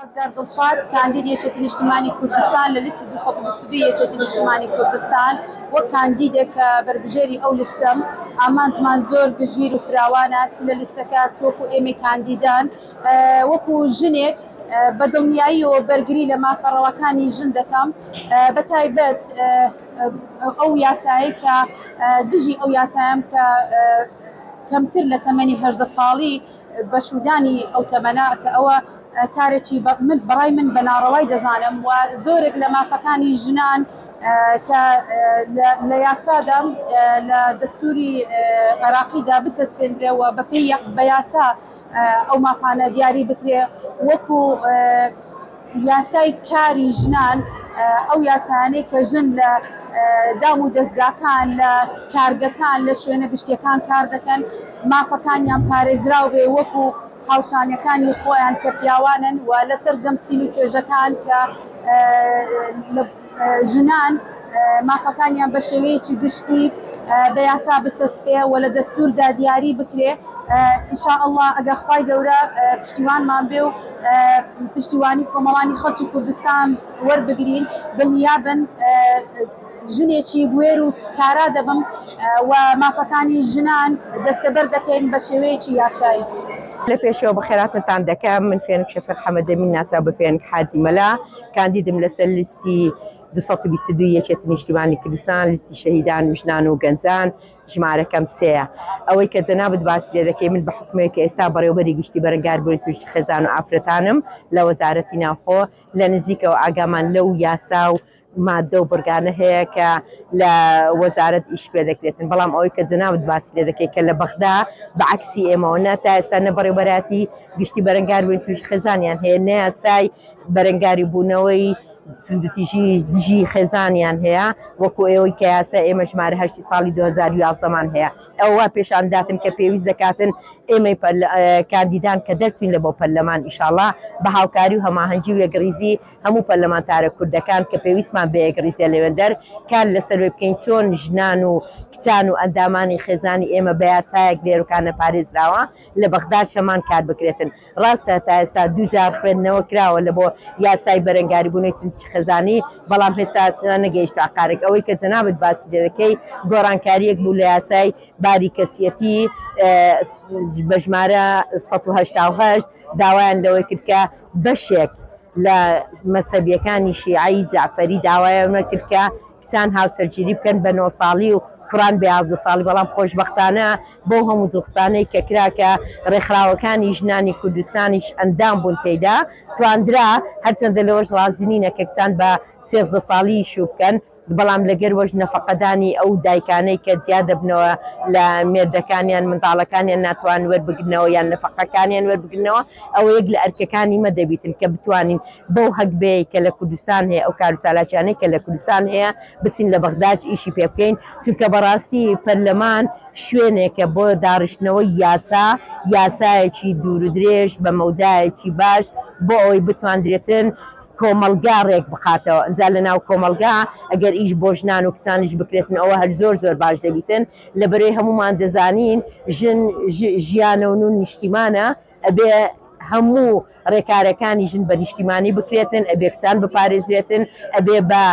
سازگار دڵشاد، کاندید یەکێتی نیشتمانی کوردستان لە لیستی دوو سەد و بیست و دوو یەکێتی نیشتمانی کوردستان، وەک کاندیدێک کە بەربژێری ئەو لیستەم، ئامانجمان زۆر گشتگیر و فراوانە، چ لە لیستەکە، چ وەکو ئێمەی کاندیدان، وەکو ژنێک، بە دڵنیاییەوە بەرگری لە مافە ڕەواکانی ژن دەکەم، بە تایبەت ئەو یاسایەی کە دژی ئەو یاسایەم کە کەمتر لە تەمەنی هەژدە ساڵی، بەشوودانی ئەو تەمەنە کە ئەوە کارێکی بەڕای من بە ناڕەوای دەزانم و زۆرێک لە مافەکانی ژنان کە لە یاسادا لە دەستوری عێراقیدا بچەسپێندرێەوە بەپی بە یاسا ئەو مافانە دیاری بکرێ وەکو یاسای کاری ژنان ئەو یاسایانەی کە ژن لە دام و دەزگاکان، لە کارگەکان، لە شوێنە گشتیەکان کار دەکەن مافەکانیان پارێزراو بێ وەکو هاوشانەکانی خۆیان کە پیاوانن و لە سەرجەم چین و توێژەکان کە لە ژنان مافەکانیان بە شێوەیەکی گشتی بە یاسا بچەسپێ و لە دەستوردا دیاری بکرێ ان شاء اللە ئەگەر خوای گەورە پشتیوانمان بێ و پشتیوانی کۆمەڵانی خەڵکی کوردستان وەربگرین دڵنیابن ژنێکی بوێر و کارا دەبم و مافەکانی ژنان دەستەبەر دەکەین بە شێوەیەکی یاسایی. لە پێشەوە بەخێراتنتان دەکەم من فێنک شەفیق حەمەدەمین ناسراو بە فێنک حاجی مەلا کاندیدم لەسەر لیستی دوو سەد و بیست و دوو یەکێتی نیشتیمانی کوردستان، لیستی شەهیدان و ژنان و گەنجان، ژمارەکەم سێیە. ئەوەی کە جەنابت باسی لێ دەکەی، من بە حوکمێک کە ئێستا بەڕێوەبەری گشتی بەرەنگاربوونی تووشی خێزان و ئافرەتانم لە وەزارەتی ناوخۆ، لە نزیکەوە ئاگامان لەو یاسا و ماددە و بڕگانە هەیە کە لە وەزارەت ئیش پێ دەکرێتن. بەڵام ئەوەی کە جەنابت باسی لێ دەکەی کە لە بەغدا بە عەکسی ئێمەوە، نە تا ئێستا نە بەڕێوەبەراتی گشتی بەرەنگاربوونی تووشی خێزانیان هەیە، نە یاسای بەرەنگاری بوونەوەی توندوتیژی دژی خێزانیان هەیە وەکو ئەوەی کە یاسای ئێمە ژمارە هەشتی ساڵی دوو هەزار و یازدە مان هەیە ئەوە وا پێشان داتن کە پێویست دەکاتن ئێمەی کاندیدان کە دەرچوین لە بۆ پەرلەمان ئیشاڵا بە هاوکاری و هەماهەنگی و یەکڕیزی هەموو پەرلەمانتارە کوردەکان کە پێویستمان بە یەکڕیزیە لەوێندەر کار لەسەر وێ بکەین چۆن ژنان و کچان و ئەندامانی خێزانی ئێمە بە یاسایەک لێرکانە پارێزراوە لە بەغداد شەمان کار بکرێتن ڕاستە تا ئێستا دوو جار خوێندنەوە کراوە لە بۆ یاسای بەرەنگاریبوونەوەی تینسکی خێزانی، بەڵام هێستا نەگەیشتە ئاقارێک. ئەوەی کە جەنابت باسی لێ دەکەی گۆڕانکارییەک بوو لە یاسای باری کەسیەتی بە ژمارە سەد و هەشتا و هەشت، داوایان لەوە کرد کە بەشێک لە مەزهەبییەکانی شیعەی جەعفەری داوایان لەوە کرد کە کچان هاوسەرگیری بکەن بە نۆ ساڵی و کوڕان بە یازدە ساڵی، بەڵام خۆشبەختانە بەو هەموو جوختانەی کە کرا کە ڕێکخراوەکانی ژنانی کوردستانیش ئەندام بوون تێیدا تواندرا، هەرچەندە لەوەش ڕازی نینە کە کچان بە سێزدە ساڵیی شوو بکەن، بەڵام لەگەروەش نەفەقەدانی ئەو دایکانەی کە جیا دەبنەوە لە مێردەکانیان منداڵەکانیان ناتوان وەربگرنەوە یان نەفەقەکانیان وەربگرنەوە، ئەوە یەک لە ئەرکەکانی مە دەبیتن کە بتوانین بەو هەگبەیەی کە لە کوردستان هەیە ئەو کار و چالاکیانەی کە لە کوردستان هەیە بچین لە بەغداش ئیشی پێ بکەین چونکە بەڕاستی پەرلەمان شوێنێکە بۆ داڕشتنەوەی یاسا یاسایەکی دوور و درێژ بە مەودایەکی باش بۆ ئەوەی بتواندرێتن کۆمەڵگا ڕێک بخاتەوە ئەجا لە ناو کۆمەڵگا ئەگەر ئیش بۆ ژنان و کچانیش بکرێتن ئەوە هەر زۆر زۆر باش دەبیتن لەبەرەی هەموومان دەزانین ژن ژیانە و نون نیشتیمانە ئەبێ هەموو ڕێکارەکانی ژن بە نیشتیمانی بکرێتن، ئەبێ کچان بپارێزرێتن، ئەبێ بە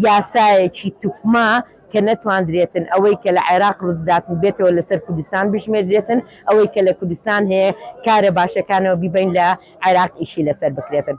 یاسایەکی توکما کە نەتواندرێتن ئەوەی کە لە عێراق ڕووددات و بێتەوە لەسەر کوردستان بژمێردرێتن، ئەوەی کە لە کوردستان هەیە کارە باشەکانەوە بیبەین لە عێراق ئیشی لەسەر بکرێتن.